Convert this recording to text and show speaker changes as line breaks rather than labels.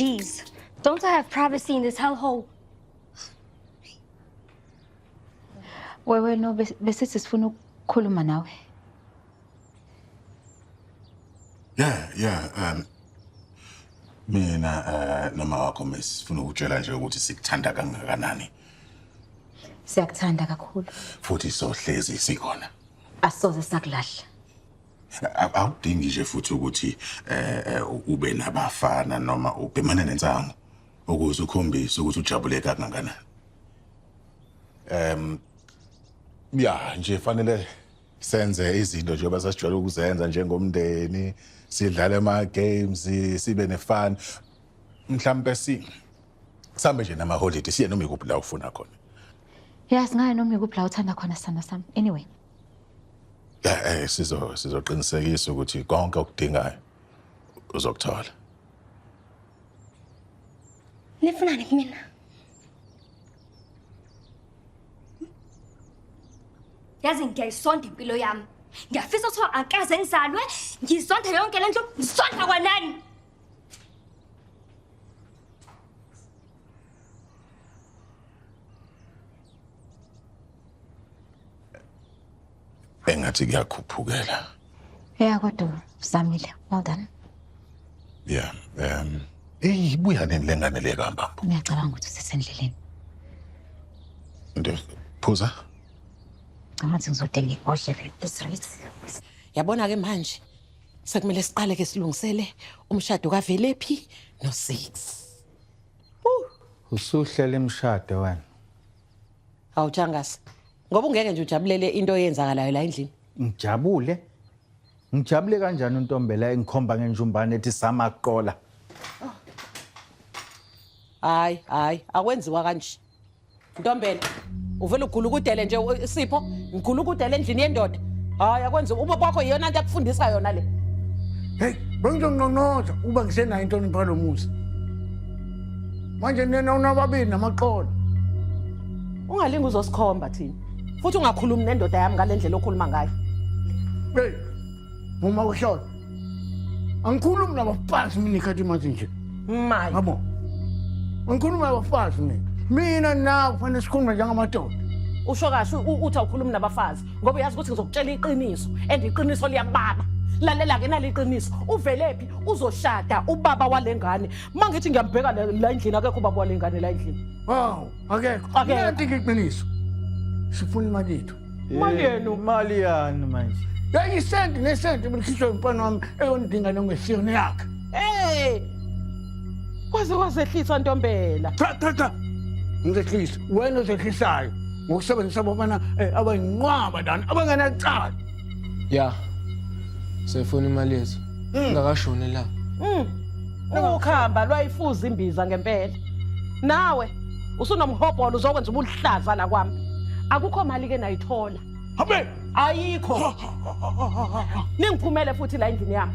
Jeez, don't I have privacy in this hellhole?
Wewe no besithi sifuna ukukhuluma nawe.
Yeah, yeah, um mina uh, noma wakho mesi sifuna ukutshela nje ukuthi sikuthanda kangakanani.
Siyakuthanda kakhulu. Futhi sohlezi
sikhona. Asoze
sakulahla.
Awudingi nje futhi ukuthi eh, eh ube nabafana noma ubhemane nensangu ukuze ukhombise ukuthi ujabule kangakanani. Em um, ya nje fanele senze izinto njengoba sasijwayele ukuzenza njengomndeni sidlale ama-games sibe nefun mhlawumpe si sambe nje namaholidi siye noma ikuphi la ufuna khona ya singaye
noma ikuphi la uthanda khona sithando sami anyway ya um
sizoqinisekisa ukuthi konke okudingayo uzokuthola
nifunani kumina yazi ngiyayisonda impilo yami ngiyafisa kuthiwa akaze ngizalwe ngizonda yonke le nto ngizonda kwanani
engathi kuyakhuphukela ya
kodwa uzamile well done ya
um eyi ibuya nini le ngane le kambamba ngiyacabanga ukuthi usesendleleni nto phuza
ngathi ngizodinga ibhodlela ezrit yabona-ke
manje sekumele siqale-ke silungisele umshado kavelephi no-six
usuhlela imishado wena Hawu
Changasa. Ngoba ungeke nje ujabulele into eyenzakalayo la endlini. Ngijabule.
Ngijabule kanjani uNtombela engikhomba ngenjumbane ethi sama kuqola.
Hayi, hayi, akwenziwa kanje. Ntombela, uvela ugula ukudele nje u- Sipho, ngigula ukudele endlini yendoda. Hayi, akwenziwa. Uma kwakho iyona into akufundisa yona le. Hey,
bengizonqonqoza uba ngisenayo inhlonipho yalo muzi. manje nina unababili namaqola
ungalingi uzosikhomba thina futhi ungakhulumi nendoda yami ngale ndlela okhuluma ngayo hey
uma ushona angikhulumi nabafazi mina ikhathi imathi nje maye yabo angikhulumi nabafazi mina mina nawe kufanele sikhulume njengamadoda usho kahle
uthi awukhulumi nabafazi ngoba uyazi ukuthi ngizokutshela iqiniso and iqiniso liyakubaba lalela-ke naliqiniso uvelephi uzoshada ubaba wale ngane uma ngithi ngiyambheka la la endlini akekho ubaba wale ngane la endlini Wow, akekho.
Akekho. Nanti iqiniso. Sifuna imali yethu. Imali yenu.
Imali yani
manje. Yayisenti
nesenti ubukhishwe umfana wami eyondinga nongesiyona yakhe. hey
kwaze kwazehlisa ntombela Cha cha cha.
Ngizehlisa. Wena ozehlisayo ngokusebenzisa abafana eh, abayinqwaba lana abangenacala. ya
sefuna imali yethu hmm. ngakashoni la hmm.
ukhamba lwayifuza imbiza ngempela nawe usunomhobholo uzokwenza ubuhlaza la kwami akukho mali ke nayithola habe
ayikho
ningiphumele futhi la endlini yami